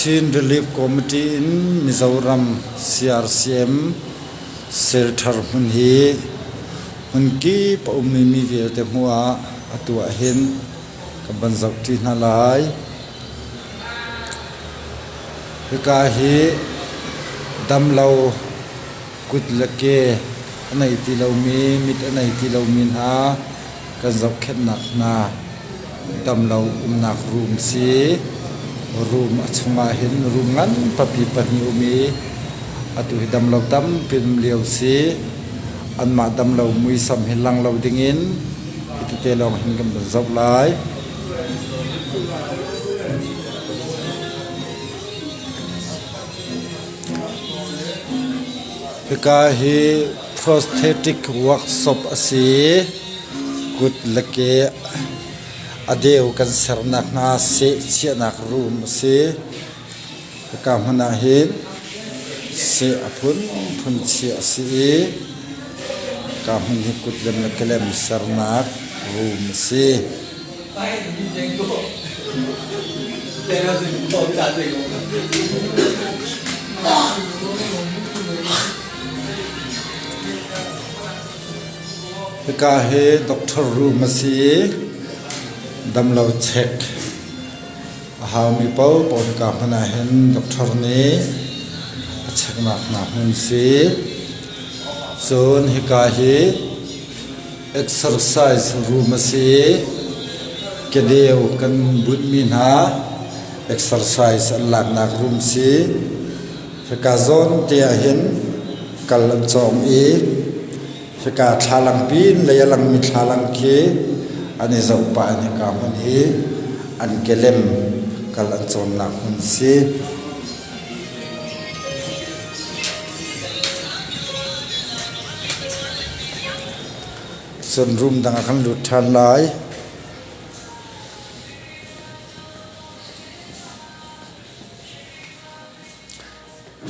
Chin Relief Committee in Mizoram CRCM Cell Thar hmun hi hmun kip a ummi mi vialte hmuh ah atu ahhin kan van zohṭi hna lai. Hika hi damlo kut le ke a nei ti lomi, mit a nei ti lomi hna kan zohkhenhnak hna damlo umnak room si. Room a chungah hin room ngan papi pahnih um i atu hi damlo tampi um lio si. Anmah damlo muisam hi lang lo dingin hitete lawng hin kan van zoh lai. Hika hi Prosthetic workshop a si. Kut le ke a deu kan ser nakhnga sehchiahnak room a si. Hika hmun ahhin seh a phunphun chiah a si i hika hmun hi kut le kehlem sernak room a si. Hika hi doctor room a si i damlo check a haumi paohpaoh in kaa hmun ah hin doctor nih a checknak hna hmun si. Cun hika hi exercise room a si i kedeu kan bunhmi hna exercise an laknak room si. Hika zawn te ah hin kal an cawng i hika thlalang pin lei a langmi thlalang khi an i zoh pah in hika hmun hi an kelem kal an cawnnak hmun si. Cun room dang a kan lut ṭhan lai.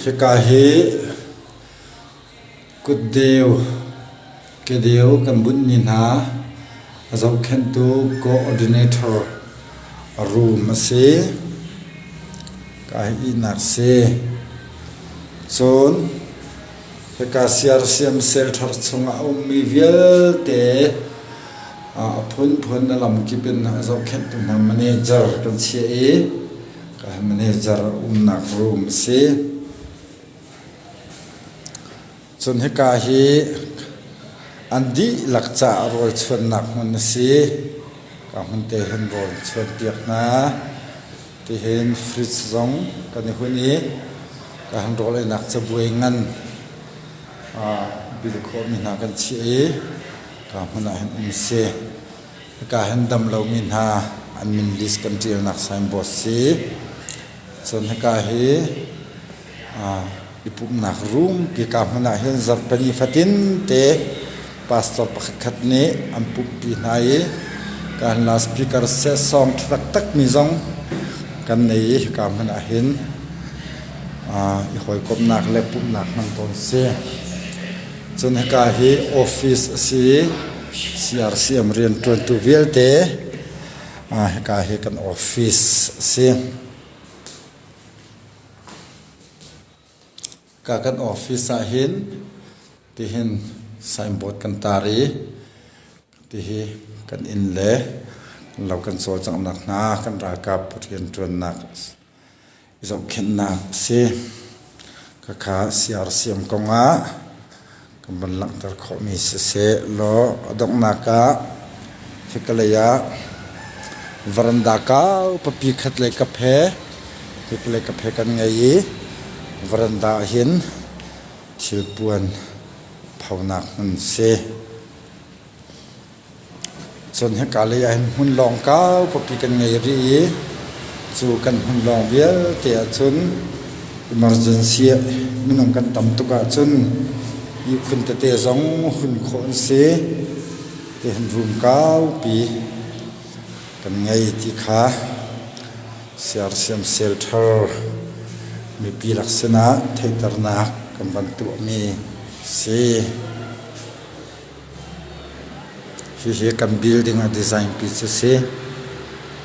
Hika hi kutdeu, kedeu kan bunh ni hna a zohkhenhtu coordinator room a si. Hika hi ihnak si. Cun hika siar siamsel thar chungah a ummi vialte a phunphun a lamkip in a zohkhenhtu hna manager kan chiah i manager umnak room a si cun hika hi an dihlak caah rawlchuannak hmun a si ka hmun te hin rawl chuanpiak hna tihin fridge zong kan i hun i ka han rawleinak cabuai ngan bil khawhmi hna kan chiah i ka hmun ah hin um si. Hika hin dam lomi hna an min list kan ṭialnak signboard si. Cun hika hi i pumhnak room hika hmun ah hin zarhpini fatin te pastor pakhat khat nih an pumhpi hna i kan loudspeaker set song ṭha taktakmi zong kan nei i hika hmun ah hin i hawikomhnak le pumhnak hman tawn si. Cun hika hi office a si i CRCM rianṭuantu vialte hika hi kan office a si. Hika kan office ah hin tihin signboard kan tar i tihi kan inn le lo kan cawlcanghnak hna kan ralkap rianṭuannak zohkhenhnak a si. Khakha siarsiam kongah kan van langhter khawhmi siseh law a donghnak ah hikalei ah veranda kau papi khat le kap he hikalei kap he kan ngei i veranda hin thilpuan phonak hmun si. Cun hika lei ah hin hmun lawng kau kawpi kan ngei rih i cu kan hmun lawng vialte ahcun emergency ah minung kan tam tuk ahcun ihkhun tete zong hun khawh an si tihin room kaupi kan ngei ti kha Sersiam Shelter mipi lak sinah theihternak kan van tuahmi a si. Hihi kan building a design pi cu si.